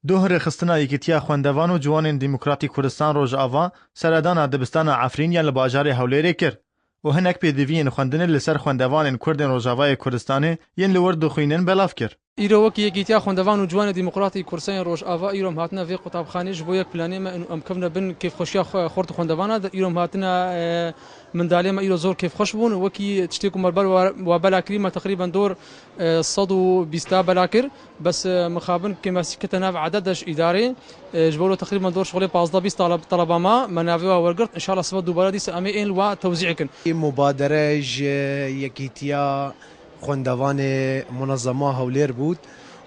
Duh rêxistina Yekîtiya Xwendevan û Ciwanên Demokratîk Kurdistan Rojava seredana dibistana Efrîn ya li bajarê Hewlêrê kir û hinek pêdiviyên xwendinê li ser xwendevanên Kurdên Rojavayê Kurdistanê yên li wir dixwînin belav kir. Îro wekî Yekîtiya Xwendevan û Ciwanê Demokratîk Kursayên Rojava îro em hatine vê qutabxanê ji bo yek planê me û em kevine bin kêfxweşiya xwe xurt û xwendevanan de îro em hatine mindalê me îro zor kêfxweş bûn wekî tiştê ku me li ber we bela kirî me teqrîben dor sed û bîsta bela kir Bes mixabin ke me kete nav eded de ji îdarê. Ji bo wilo teqrîban dor şixulê pazdeh bîst taleba ma, me navê wan wergirt. Înşallah sibe dubare dîsa em ê ên li wa tewzî ekin. Mubadere ji Yekîtiya Xwendevanê Munezema Hewlêr bû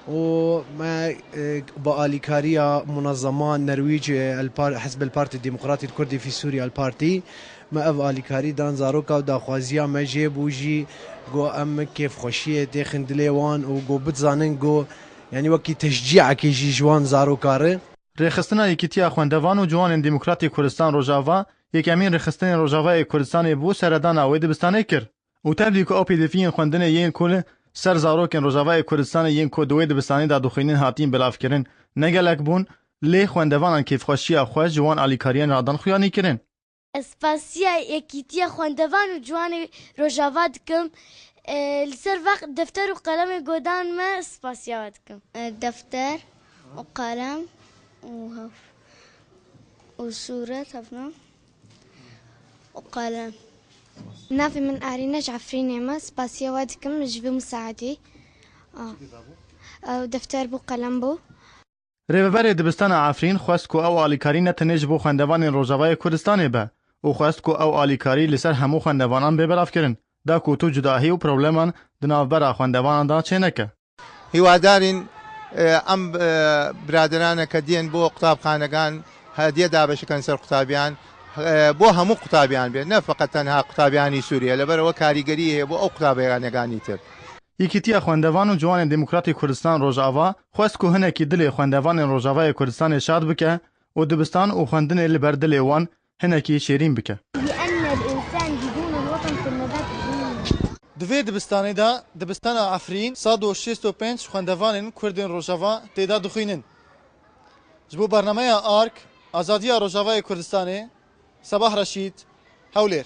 û me bi alîkariya Munezema Nerwîc El Hizb El Partî Demokratî Kurdî fî Sûrî El Partî Me ev alîkarî dan zaroka û daxwaziya me jê bû jî ku em kêfxweşiyê têxin dilê wan û ku bidzanin ku yanî wekî teşcîekê jî ji wan zarokar e. Rêxistina Yekîtiya Xwendevan û Ciwanên Demokratîk Kurdistan Rojava yekemîn rêxistinên Rojavayê Kurdistanê bû seredana wê dibistanê kir û tevlî ku ew pêdiviyên xwendinê yên ku li ser zarokên Rojavayê Kurdistanê yên ku di wê dibistanê de dixwînin hatin belavkirin ne gelek bûn lê xwendevanan kêfxweşiya xwe ji wan alîkariyan re a dan xuyanîkirin. Ez spasiya Yekîtiya Xwendevan û Ciwanê Rojava dikim. Li ser vaq defter û qelemê godan me spasiya we dikim. Defter û qelem û hev û sûret hevna û qelem. Navê min Arîne ji Efrînê me. Spasiya we dikim ji vî misaedî. Çi bû? Defter bû, qelem bû. Rêveberê Dibistana Efrîn xwest ku ew alîkarî ne tenê ji bo xwendevanên Rojavayê Kurdistanê be û xwest ku ew alîkarî li ser hemû xwendevanan bê belavkirin. Da ku tu cudahî û probleman di navbera xwendevanan de çê neke. Hiwadarîn em biraderane ke diyên bo qutabxanegan hediye dabeş bikin ser qutabiyan bo hemû qutabiyan bê ne feqet tenha qutabiyanî Sûriyê li ber ew karîgeriyê heye bo ew qutabiyaneganî tir. Yekîtiya Xwendevan û Ciwanên Demokratî Kurdistan Rojava Xwest ku hinekî dilê xwendevanên Rojavayê Kurdistanê şad bike û dibistan û xwendinê li ber dilê wan hinekî şêrîn bike. Di vê dibistanê de Dibistana Efrîn sed û şêst û pênc xwendevanên Kurdên Rojava tê de dixwînin. Ji bo bernameya ark, Azadiya Rojavayê Kurdistanê, Sebah Reşîd, Hewlêr.